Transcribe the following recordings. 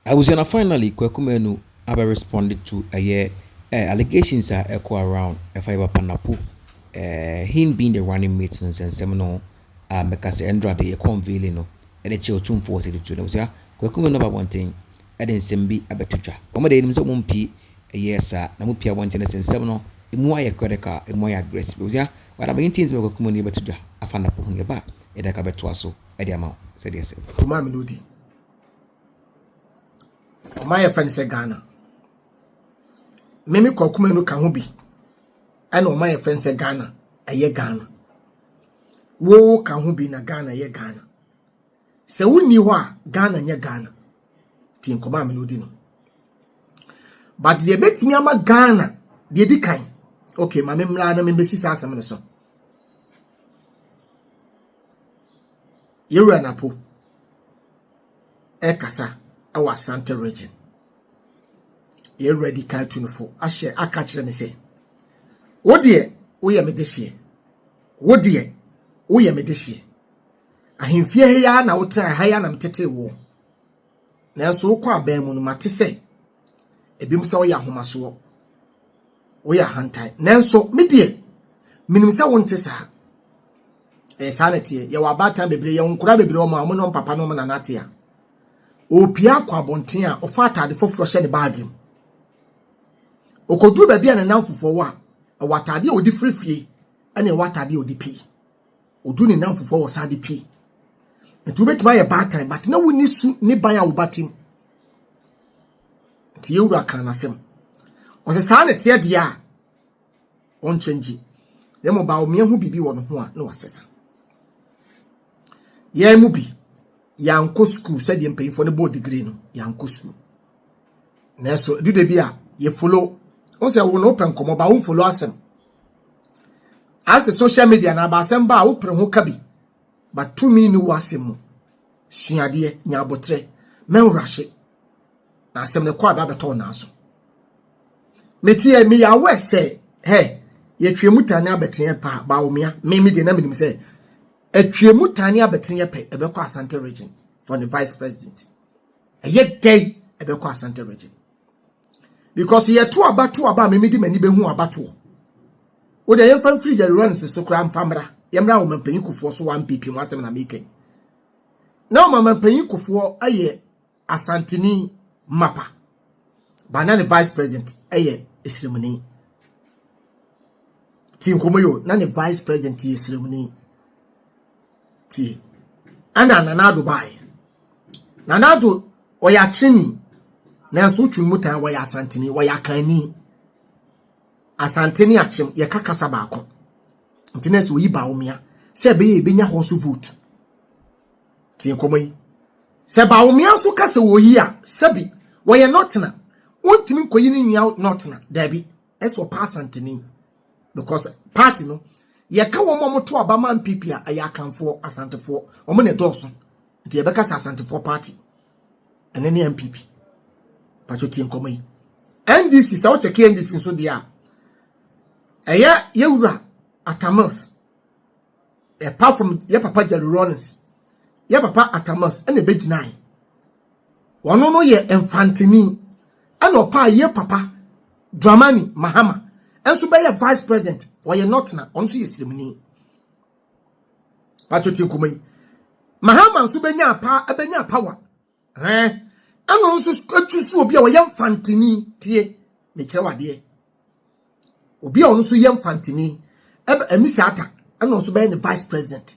Abusua na finally Kwaku Manu abɛ responde to ɛyɛ eh allegations a ɛkɔ around ɛfa yɛ papa Napo eh him being the running mate nsɛnsɛm no ho a mɛka sɛ ɛndra de yɛkɔ unveiling no ɛde kyerɛ otumfoɔ wɔ sɛ de tuo no abusua Kwaku Manu aba abɔnten ɛde nsɛm bi abɛto dwa wɔn de yɛnim sɛ wɔn mpie ɛyɛ saa na mo pie abɔnten no sɛ nsɛm no emu ayɛ critical emu ayɛ aggressive abusua wadama yɛn ti nti mɛ Kwaku Manu yɛbɛto dwa afa Napo ho yɛba yɛde aka bɛtoa so ɛde ama sɛdeɛ sɛ. Ɔmaa me no di. ɔman yɛfrɛ no sɛ Ghana. Meme Kwaku Manu ka ho bi ɛna ɔman yɛfrɛ no sɛ Ghana ɛyɛ Ghana. Wo ka ho bi na Ghana yɛ Ghana. Sɛ wonni hɔ a Ghana nyɛ Ghana. Ti nkɔmɔ a me no di no. But deɛ ebetumi ama Ghana deɛ di kan. Okay, ma me mmra na me mbesi saa asɛm no so. Yɛwura Napo. ɛkasa wɔ Asante region. Yɛn wura di kan tunufo ahyɛ aka kyerɛ me sɛ, wo deɛ woyɛ me dehyeɛ, wo deɛ woyɛ me dehyeɛ. Ahemfie ha ya na wotra ha ya na metete wo. Nanso wokɔ abɛn mu no mate sɛ ebinom sɛ woyɛ ahomasoɔ, woyɛ ahantan. Nanso me deɛ menim sɛ wonte saa. ɛyɛ saa na ɛteɛ yɛwɔ abaatan bebree yɛwɔ nkora bebree wɔn a wɔn ne wɔn papa ne wɔn nana te a ɔrepia akɔ abɔnten a ɔfa ataade foforɔ hyɛ ne baage mu ɔkɔduru baabi a ne nan fofoɔ wɔ a ɛwɔ ataade a ɔde firi fie ɛna ɛwɔ ataade a ɔde pii ɔduru ne nan fofoɔ wɔ saa de pii nti wobɛtumi ayɛ baatan but na wonni su ne ban a wobatem nti yɛwura kan n'asɛm ɔsɛ saa na ɛteɛ deɛ a ɔnkyɛngye na mmom ba ɔmea ho biribi wɔ ne ho a na wasesa yɛn mu bi yɛankɔ sukuu sɛdeɛ mpanyinfoɔ no bɔɔ digiri no yɛankɔ sukuu nanso ɛdu da bi a yɛfolo wo sɛ wo na wopɛ nkɔmmɔ ba womfolo asɛm asɛ social media na aba asɛm ba a wopere ho ka bi but tumi ne wo asɛm mu suadeɛ nya aboterɛ mɛnworahye na asɛm no kɔ aba bɛtɔ wo naa so meteɛ meyɛ aware sɛ hɛ yɛtwea mu tane abɛteɛ paa baomea me me deɛ na menim sɛ atwea mu tane abɛteɛ pɛ ɛbɛkɔ asante region for the vice president ɛyɛ dɛn ɛbɛkɔ asante region because yɛto abato aba a me mede m'ani bɛhu abatoɔ wo deɛ yɛmfa mfiri yɛrewa no so koraa mfa mmra yɛmmra wo mampanyin kufoɔ so wa mpipi mu asɛm na mekɛn na wo mampanyin kufoɔ ayɛ Asanteni Mapa, ba na ne vice president yɛ Esremuni. Ti nkɔmɔ yo, na ne vice president yɛ Esremuni. Ti, ɛna Nana Addo baeɛ. Nana Addo, ɔyɛ akyerɛni, nanso wotwe no mu tan wɔyɛ Asanteni, wɔyɛ Akanni. Asante ne Akyem, yɛka kasa baako. Nti na ɛsɛ oyi Bawumia sɛ ɛbɛyɛ yɛbɛnya hɔ so vote. Tie nkɔmmɔ yi. Sɛ Bawumia nso ka sɛ wɔyi a, sɛbi wɔyɛ nɔtena. Wontumi nkɔyi ne nua nɔtena. Daabi. Ɛsɛ ɔpa Asanteni. Because party no, yɛka wɔn a wɔto aba ma NPP a, ɛyɛ Akanfoɔ, Asantefoɔ. Wɔn na ɛdɔɔso. Nti yɛbɛka sɛ Asantefoɔ party. Ɛno ne NPP. Patro tie nkɔmmɔ yi. NDC, sɛ wokyɛke NDC nso deɛ a, ɛyɛ yɛwura Atamils. apart from yɛ papa jerry rollins yɛ papa atamas ɛna ɛbɛgyinae wɔn no yɛ mfantini ɛna ɔpaa yɛ papa dramani mahama ɛnso bɛyɛ vice president wɔyɛ nɔtena wɔn nso yɛ sirimuni patro ti nkɔmɔ yi mahama nso bɛnya apa ɛbɛnya power Ɛn, ɛna ɔno nso atu so obi a ɔyɛ mfantini tie ne kyerɛw adeɛ. Obi a ɔno nso yɛ mfantini ɛbɛ ɛmi sɛ ata ɛna ɔnso bɛyɛ ne vice president.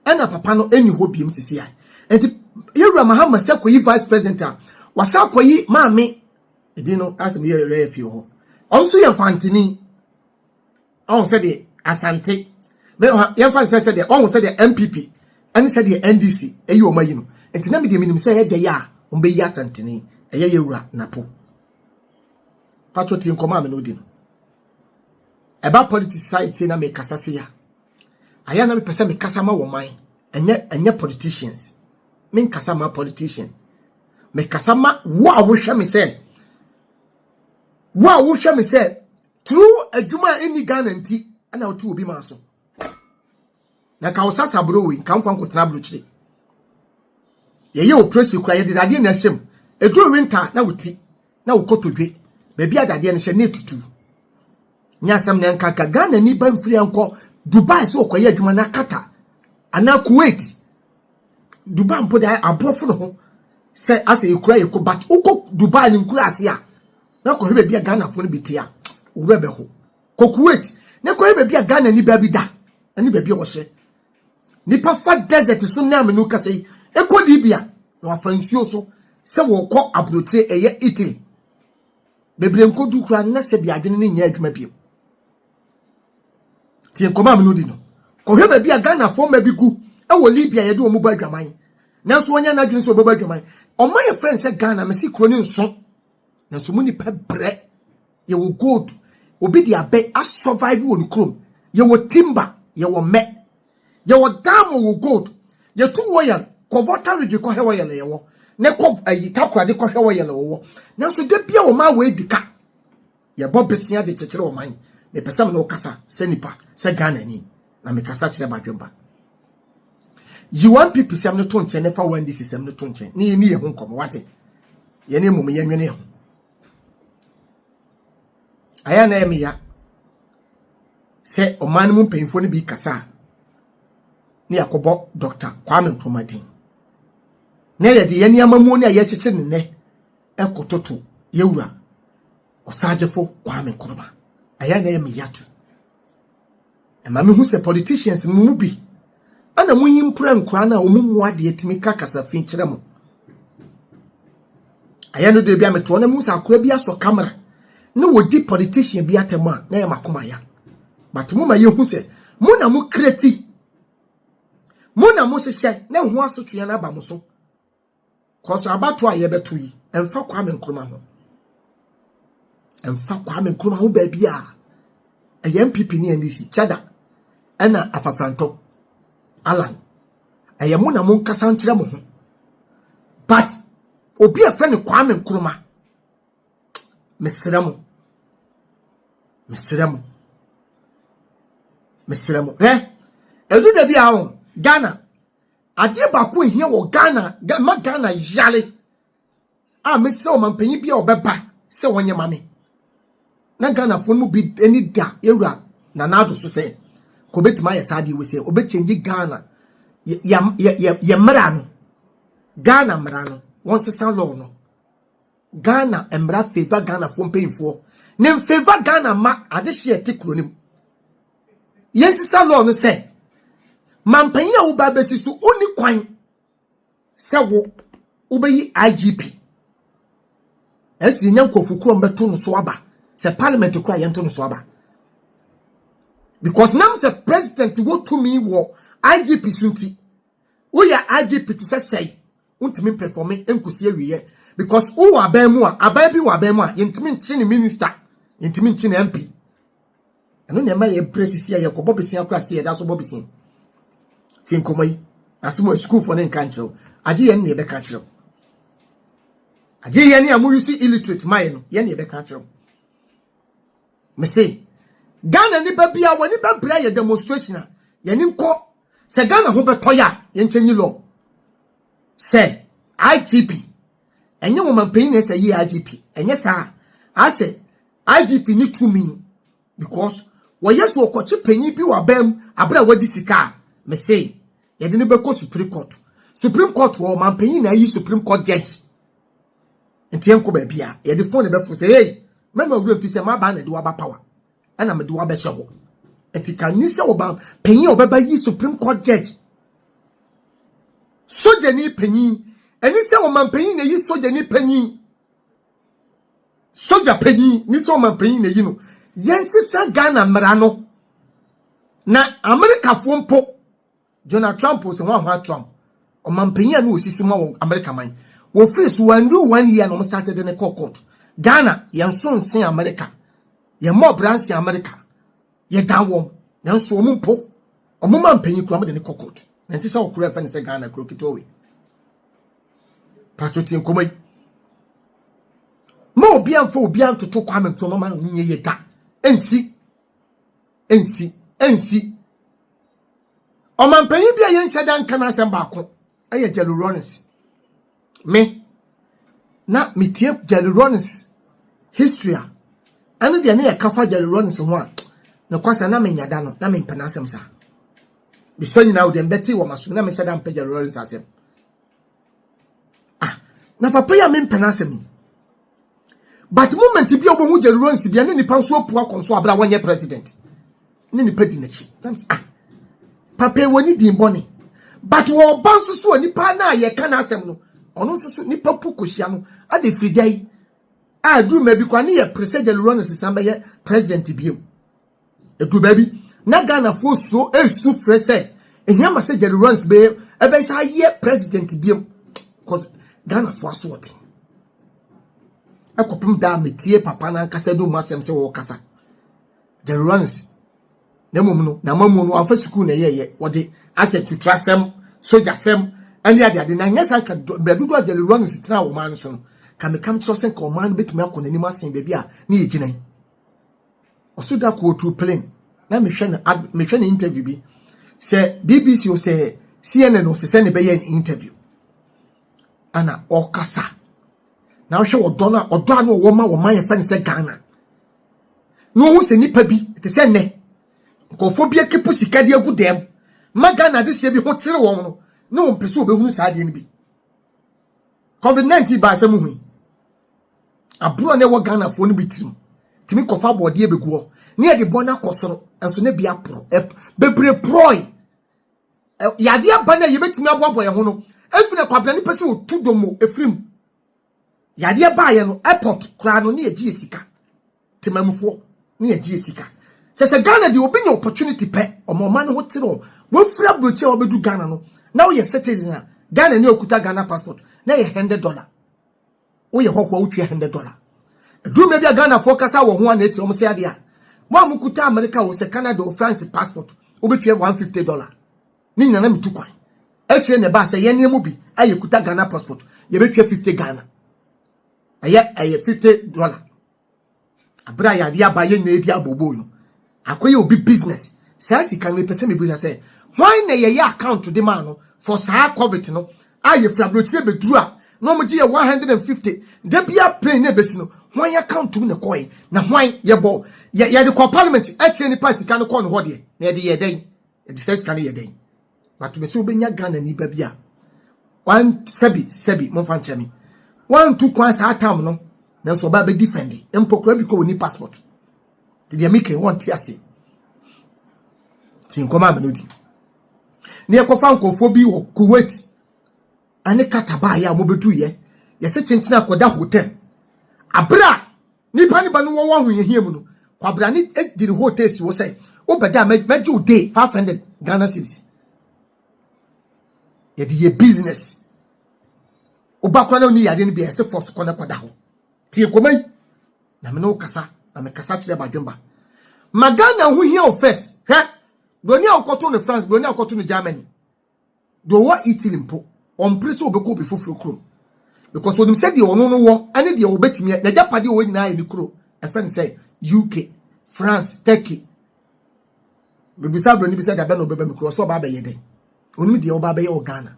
Ɛna papa no ɛni hɔ biem sisi a. Nti yɛwura Mahama sɛ kɔyi vice president a wasa akɔyi maame ɛdin no asɛm yɛ yɛ fie hɔ. Ɔno nso yɛ mfantini. ɔho sɛdeɛ asante yɛmfa ne sɛ sɛdeɛ ɔho sɛdeɛ mpp ɛne sɛdeɛ ndc ɛyi wɔn ayi no nti na medeɛ menim sɛ ɛyɛ dɛyɛ a wɔn bɛyi asanteni ɛyɛ yɛ wura napo patro ti nkɔmɔ a me no di no ɛba politics side sei na mekasa se ya ayɛ na mepɛ sɛ mekasa ma wɔ man ɛnyɛ ɛnyɛ politicians menkasa ma politician mekasa ma wo a wohwɛ me sɛ wo a wohwɛ me sɛ Through adwuma a ɛnni Ghana nti na wote obi maa so. Na ka wo sasa bro wei, ka mfa nkotena abrokyire. Yɛyɛ operation kura yɛde dadeɛ na ɛhyɛm. Ɛduru winter na woti na wokɔtodwe. Baabi a dadeɛ no hyɛ na ɛtutu. Nyɛ asɛm na ɛnka ka Ghana ni ba mfiri ankɔ Dubai sɛ ɔkɔyɛ adwuma na Qatar anaa Kuwait. Dubai mpo de aborɔfo no ho sɛ asɛ yɛkura yɛkɔ but wokɔ Dubai no nkura ase a na kɔhwɛ baabi a ghanafoɔ no bi te a owura bɛho kɔ kuwait na kɔhwɛ baabi a ghana nipa bi da ne baabi a wɔhyɛ nipa fa desert so nam no kasa yi ɛkɔ libya na wafa nsuo so sɛ wɔkɔ aburokyire ɛyɛ italy bebree nkɔdu koraa na sɛ bi adwene no nyɛ adwuma bio tie nkɔmɔ a mene di no kɔhwɛ baabi a ghanafoɔ ma bi gu ɛwɔ libya yɛde wɔn bɔ adwaman nanso wɔnyɛ n'adwene sɛ wɔbɛbɔ adwaman ɔma yɛ fɛn sɛ ghana mesi kuro ne nso nanso mu nipa brɛ yɛwɔ gold obi de abɛ asurvive wɔ ne kurom yɛwɔ timber yɛwɔ mɛ yɛwɔ diamond wɔ gold yɛtu oil kɔ volta region kɔhwɛ oil yɛwɔ ne kɔ ayi eh, takoradi kɔhwɛ oil wɔwɔ nanso da bia wɔn a wɔadi ka yɛbɔ besia de kyekyere wɔn man mepɛ sɛ me ne wo kasa sɛ nipa sɛ Ghana ni na mekasa kyerɛ m'adwempa yi wɔn pipi sɛm no to nkyɛn ne fa wɔn disi sɛm no to nkyɛn ne yɛni yɛn ho nkɔmɔ wate yɛne mmom yɛnwene ho ayɛ na ɛmeya sɛ ɔman no mu mpanyinfoɔ no bi kasa a ne yɛakɔbɔ dɔkta kwame nkrumah din na yɛde yɛn nneɛma mu ne a yɛkyekyere ne nnɛ ɛkototo yɛwura ɔsagyefo kwame nkrumah ayɛ na ɛmeya to Ɛma mehu sɛ politicians no mu bi ana mo yi mpura nkura na wɔn mu adeɛ tumi ka kasa fi kyerɛ mo. Ayɛ no de bi a metoɔ na mu sɛ akora bi asɔ camera na wɔdi politician bi atɛm a na yɛ makoma ya. But mo ma yɛhu sɛ mo na mo kreti mo na mo hyehyɛ na ho asotweɛ no aba mo so. Cause abato a yɛbɛto yi, ɛmfa Kwame Nkrumah ho. Ɛmfa Kwame Nkrumah ho baabi a ɛyɛ MPP ne NDC kyɛda ɛna afafrantɔ Alan. Ɛyɛ mo na mo nkasa nkyerɛ mo ho. But obi a fɛ ne Kwame Nkrumah mesrɛ mo mesrɛ mo mesrɛ mo ɛ ɛdu da bi a Ghana Adeɛ baako a ɛhia wɔ Ghana, ɛma Ghana yare a mɛsrɛ ɔmanpanyin bi a ɔbɛba sɛ ɔnyɛ ma me na Ghanafoɔ no mu bi ani da yɛwura Nana Addo so sɛ ka ɔbɛtumi ayɛ saa adeɛ wei sɛ ɔbɛkyɛngye Ghana yɛ yɛ yɛ yɛ yɛ mmara no Ghana mmara no wɔnsesa law no Ghana mmara favor Ghanafoɔ mpanyinfoɔ ne mfavor Ghana mma adehyeɛ a ɛte kuro no mu. yɛnsesa law no sɛ mampanyin a woba bɛsi so wonni kwan sɛ wo wobɛyi igp ɛsi yɛnya nkurɔfo kurom bɛto no so aba sɛ parliament kora yɛnto no so aba because nam sɛ president wɔ tumi wɔ igp so nti woyɛ igp te sɛ sɛe Wontumi mpɛfɔme nkosi awieɛ because wowɔ aban mu a, aban bi wɔ aban mu a yɛntumi nkye ne minister, yɛntumi nkye ne MP. Ɛno na ɛma yɛbrɛ sisi a yɛkɔbɔ besia kora sɛ yɛda so bɔ besia. Tie nkɔmmɔ yi, asɛm a sukuufoɔ no nka nkyerɛ wo, agye yɛn ne yɛbɛka akyerɛ wo. Agye yɛn ne a moyusi illiterate ma yɛn no, yɛn ne yɛbɛka akyerɛ wo. Mese, Ghana nipa bia w'ani bɛbrɛ yɛ demonstration a, yɛne nkɔ Sɛ Ghana ho bɛtɔ yɛ a, yɛn change law. Sɛ IGP, ɛnyɛ wɔn mampanyin na ɛsɛ yɛ IGP, ɛnyɛ saa. Asɛ IGP ne tumi because wɔyɛ so ɔkɔkye panyin bi wɔ abam abere a wadi sika a, me se yɛde no bɛkɔ Supreme Court. Supreme Court wɔ mampanyin na ayi Supreme Court judge. Nti yɛnkɔ baabi a yɛde phone bɛfo sɛ hey, mɛma wura mfi sɛ maba na de waba power. ɛna mede wo abɛhyɛ hɔ ɛti ka nyi sɛ ɔba panyin a ɔbɛba yi supreme court judge sogyani panyin ɛni sɛ ɔman panyin na eyi sogyani panyin sogya panyin ni sɛ ɔman panyin na eyi no yɛn sisa ghana mmara no na amerikafoɔ mpo. Donald Trump o, sɛ wɔn ahoa Trump, ɔmampanyin a na osisi ma wɔ America man. Wɔfiri so, wɔandu one year na wɔn starte de ne kɔɔ court. Ghana, yɛn so nsen America. Yɛn mmɔ ɔbra nsen America. Yɛdan wɔn. Nanso wɔn mpo, wɔn mampanyin koraa wɔde ne kɔ court. Na ɛnte sɛ ɔkoro a ɛfɛ ne sɛ Ghana kuro ketewa wei. Pato tie nkɔmɔ yi. Ma obi amfa obi antoto Kwame Nkrumah ma no nyɛ yɛ da. Ɛnsi. nsi nsi ɔmampanyin bi a yɛnhyɛ da nka n'asɛm baako ɛyɛ jelly rollins me na metie jelly rollins history a ɛne deɛ ne yɛka fa jelly rollins ho a mekwasa na menya da no na mempɛ n'asɛm saa mesɛ nyinaa wodeɛ mbɛte wɔ masom na mehyɛ da mpɛ jelly rollins asɛm ah na papa yi a mempɛ n'asɛm yi but moment bi a wɔbɛhu jerry rollins bia ne nipa nso apua kɔ nso abira wɔnyɛ president ne nipa di n'akyi nam sɛ ah papa wɔ ne din bɔne but wɔba nso so a nipa no a yɛka n'asɛm no ɔno nso so nipa pu kɔhyia no ade firi da yi a duru ma bi kora ne yɛ pere sɛ jerry rollins san bɛyɛ president biom Ɛduru baabi, na Ghanafoɔ suro resu frɛ sɛ, ɛhia ma sɛ Jerry Rawlings bɛyɛ ɛbɛsa ayɛ president biam. Because Ghanafoɔ aso ɔte. Ɛkɔpem daa metie papa no ankasa de mu asɛm sɛ wɔrekasa. Jerry Rawlings, na mmom no, na mamu no amfa sukuu na ɛyɛyɛ. Wɔde asɛ tutrasɛm, sogyasɛm, ɛne adeade na nyɛ sanka mmerɛ dodoɔ a Jerry Rawlings tena wɔ ɔman no so no, ka mekam kyerɛ sɛ nka ɔman no bɛtumi akɔ n'anim asen baabi a ne yɛgyina yi. Ɔso da kootu plane na mehwɛ no ad mehwɛ ne interview bi sɛ BBC o sɛ CNN o sɛ sɛ ne bɛyɛ ne interview ana ɔkasa na ɔhwɛ ɔdɔ no a ɔdɔ a na ɔwɔ ma wɔn ma yɛfɛ no sɛ Ghana na ɔhu sɛ nipa bi te sɛ nnɛ nkurɔfoɔ bi akipu sika de agu dɛm ma Ghana adehyɛ bi ho kyerɛ wɔn no na wɔn pɛ sɛ wɔbɛhunu saa adeɛ no bi COVID-19 baa sɛ muhui Aburo a na ɛwɔ Ghanafoɔ no bi tirim tumi kɔfa abɔdeɛ bɛgu hɔ ne yɛde bɔ no akɔ soro nso na bi aporɔ bebree porɔe yadeɛ aba no a yɛbɛtumi aboaboa yɛn ho no ɛfiri akwabena ne pɛ sɛ ɔtu domo ɛfiri mu yadeɛ baeɛ no airport koraa no ne yɛgye yɛ sika temamufoɔ ne yɛgye yɛ sika sɛ sɛ Ghana deɛ obi nya opportunity pɛ ɔma ɔma ne ho te no wɔafiri aburokyi a wɔbɛdu Ghana no na woyɛ citizen a Ghana ne okuta Ghana passport na yɛ hundred dollar Woyɛ hɔho a wotua hundred dollar. Ɛduru mmerɛ bi a Ghanafoɔ kasa wɔ ho a na ɛte wɔn sɛ adeɛ a, mo a mokuta Amerika o sɛ Canada o France passport wobɛtua one fifty dollar. Ne nyina na metu kwan. Akyire na ɛbaa sɛ yɛneɛ mu bi a yɛkuta Ghana passport yɛbɛtua fifty Ghana. Ɛyɛ ɛyɛ fifty dollar. Abere a yɛade aba yɛn nyinaa di abooboo no, akɔyɛ obi business. Saa sika no mepɛ sɛ mebisa sɛ, hwan na yɛyɛ account de maa no for saa covid no a yɛfiri aburokyire bɛduru a na wɔgye yɛ 150 da biara plane na ɛbɛsi no, hwan account mu na ɛkɔe na hwan yɛbɔ yɛde kɔ parliament akyerɛ nipa a sika no kɔɔ no hɔ deɛ na yɛde yɛ dɛn? ɛde sɛ sika no yɛ dɛn but me sɛ wobɛnya ghana ni ba bi a wan sɛbi sɛbi momfa nkyɛ me wantu kwan saa tam no nanso ɔbaa bɛdi fɛndi mpɔkora bi kɔ wɔni passport te deɛ mekɛ wɔnte ase ti nkɔma amene di ne ɛkɔfa nkɔfoɔ bi wɔ kuwait ɛne kata baayɛ a mobɛduyɛ yɛsɛ kyenkyene akɔda hotel abere a Nnipa no ba no wɔwɔ ahohiahia mu no, kwabena no di ne hɔ tee si hɔ sɛ, wobɛda a mɛgye wo day 500 Ghana cedis. Yɛde yɛ business. Woba kora na ɔni yadeɛ no bi a ɛsɛ force kɔ na kɔda hɔ. Tie nkɔma yi na me ne wo kasa na mekasa kyerɛ badwemba. Ma Ghana ho hia wo first. Hwɛ, buroni a wokɔto no France, buroni a wokɔto no Germany. Deɛ ɔwɔ Italy mpo, ɔmpere sɛ ɔbɛkɔ obi foforɔ kurom because ɔnim sɛ deɛ ɔno no wɔ ne deɛ ɔbɛtumi n'agyapadeɛ ɔwɔ nyinaa yɛ ne kuro ɛfrɛ no sɛ UK, France, Turkey. Mebisa abrani bi sɛ da bɛn na ɔbɛba me kuro ɔsɛ ɔba abɛyɛ dɛn? Ɔnim deɛ ɔba abɛyɛ wɔ Ghana.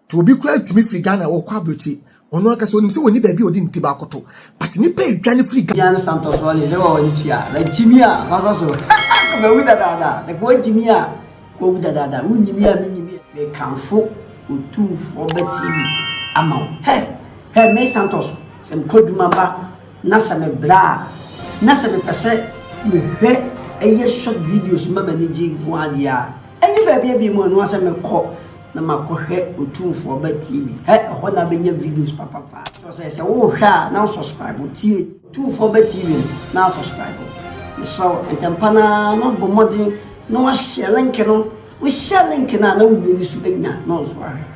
To obi koraa tumi firi Ghana ɔkɔ abrokyi ɔno ankasa onim sɛ wɔni baabi a ɔde ne ti baako to but nnipa adwa ne firi Ghana. Jan Santos wɔ ne sɛ wɔ ne tua na gyimi a fasa so kɔ bɛwu dadaada sɛ kɔ gyimi a kɔ wu dadaada wo nyimi a me nyimi a me kanfo otumfoɔ ba TV ama wo hɛ hɛ me Santos sɛ me kɔ dwuma ba na sɛ me bra na sɛ me pɛ sɛ me hwɛ ɛyɛ short videos ma m'ani gye nko adeɛ a Ɛnyɛ baabi a bi mu ɛno ara sɛ mɛkɔ na makɔhwɛ Otumfoɔ Ɔba TV. Hɛ, ɛhɔ na bɛnya videos papapa. Kyerɛ sɛ sɛ wohwɛ a na wosɔspraibo tie Otumfoɔ Ɔba TV no na asɔspraibo. Mesrɛ wo ntɛmpa no ara na wabɔ mmɔden na wahyɛ link no. Wohyɛ link no a na wobɛbi so anya na wo nso ahwɛ.